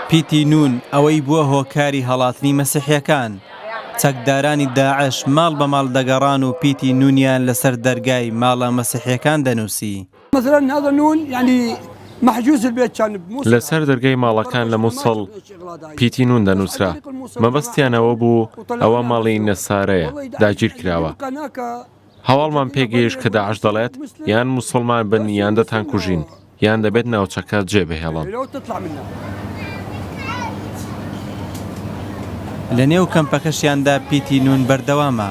پیتی نون ئەوەی بووە هۆکاری هەڵاتنی مەسیحیەکان. چەکدارانی داعش ماڵ بە ماڵ دەگەڕان و پیتی نونیان لەسەر دەرگای ماڵە مەسیحیەکان دەنووسی. لەسەر دەرگای ماڵەکان لە موسڵ پیتی نون دەنووسرا، مەبەستیان ئەوە بوو ئەوە ماڵی نەسارەیە داگیرکراوە. هەواڵمان پێ گەیشت کە داعش دەڵێت یان موسڵمان بن یان دەتانکوژین، یان دەبێت ناوچەکە جێبهێڵن. لەنێو کەمپەکەشیاندا پیتی نون بەردەوامە.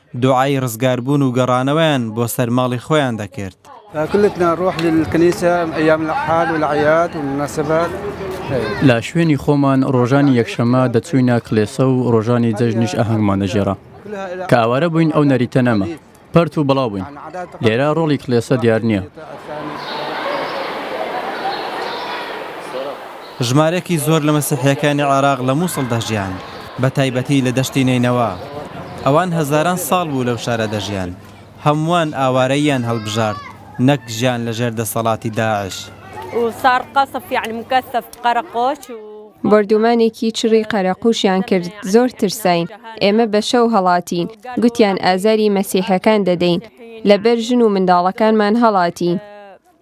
دوعای ڕزگاربوون و گەڕانەوەیان بۆ سەر ماڵی خۆیان دەکرد. لە شوێنی خۆمان ڕۆژانی یەکشەممە دەچووینە کڵێسە و ڕۆژانی جەژنیش ئاهەنگمان دەگێڕا. کە ئاوارە بووین ئەو نەریتە نەما. پەرت و بڵاو بووین. لێرە ڕۆڵی کڵێسە دیار نییە. ژمارەیەکی زۆر لە مەسیحییەکانی عێراق لە مووسڵ دەژیان، بەتایبەتی لە دەشتی نەینەوا. ئەوان هەزاران ساڵ بوو لەو شارە دەژیان. هەمووان ئاوارەییان هەڵبژارد، نەک ژیان لەژێر دەسەڵاتی داعش. بۆردوومانێکی چڕی قەرەقووشیان کرد، زۆر ترساین. ئێمە بە شەو هەڵاتین، گوتیان ئازاری مەسیحییەکان دەدەین. لەبەر ژن و منداڵەکانمان هەڵاتین.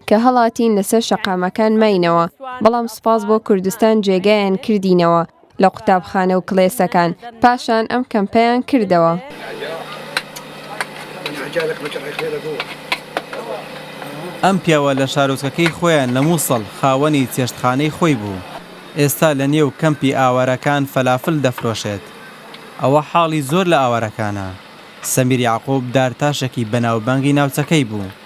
کە هەڵاتین لەسەر شەقامەکان ماینەوە بەڵام سوپاس بۆ کوردستان جێگایان کردینەوە لە قوتابخانە و کڵێسەکان پاشان ئەم کەمپەیان کردەوە. ئەم پیاوە لە شارۆچکەکەی خۆیان لە موسڵ خاوەنی چێشتخانەی خۆی بوو ئێستا لە نێو کەمپی ئاوارەکان فەلافل دەفرۆشێت ئەوە حاڵی زۆر لە ئاوارەکانە سەمیر یەعقوب دارتاشێکی بەناوبانگی ناوچەکەی بوو.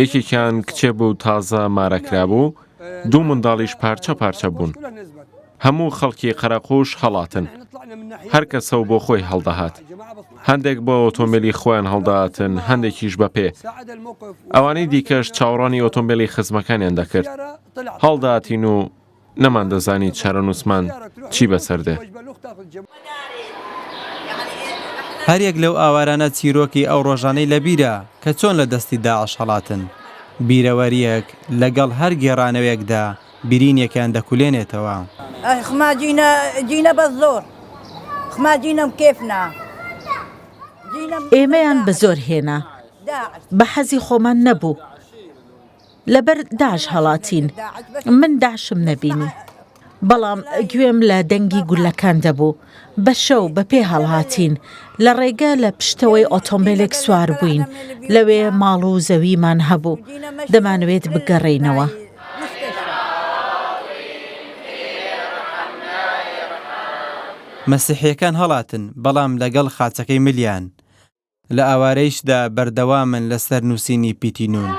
یەکێکیان کچێ بوو تازە مارەکرابوو، دوو منداڵیش پارچە پارچە بوون. هەموو خەڵکی قەرەقووش هەڵاتن. هەر کەسە و بۆ خۆی هەڵدەهات. هەندێک بە ئۆتۆمبێلی خۆیان هەڵدەهاتن، هەندێکیش بە پێ. ئەوانەی دیکەش چاوەڕوانی ئۆتۆمبێلی خزمەکانیان دەکرد. هەڵدەهاتین و نەماندەزانی چارەنووسمان چی بەسەر دێ. هەر یەک لەو ئاوارانە چیرۆکی ئەو ڕۆژانەی لە بیرە کە چۆن لە دەستی داعش هەڵاتن. بیرەوەرییەک لە گەڵ هەر گێڕانەوێکدا برینێکیان دەکولێنێتەوە. ئێمەیان بە زۆر هێنا. بە حەزی خۆمان نەبوو. لەبەر داعش هەڵاتین من داعشم نەبینی بەڵام گوێم لە دەنگی گولەکان دەبوو بە شەو بە پێ هەڵهاتین لە ڕێگە لە پشتەوەی ئۆتۆمبیلێک سوار بووین لەوێ ماڵ و زەویمان هەبوو دەمانوێت بگەڕێینەوە. مەسیحیەکان هەڵاتن بەڵام لەگەڵ خاچەکەی ملیان لە ئاوارەیشدا بەردەوامن لە سەر نووسینی پیتی نون.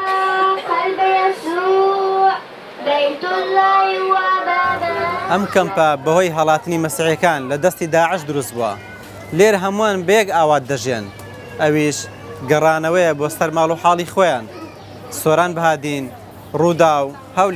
ئەم کەمپە بەهۆی هەڵاتنی مەسیحیەکان لە دەستی داعش دروست بووە. لێرە هەمووان بە یەک ئاوات دەژێن. ئەویش گەڕانەوەیە بۆ سەر ماڵ و حاڵی خۆیان. سۆران بەهادین، رووداو، هەولێر.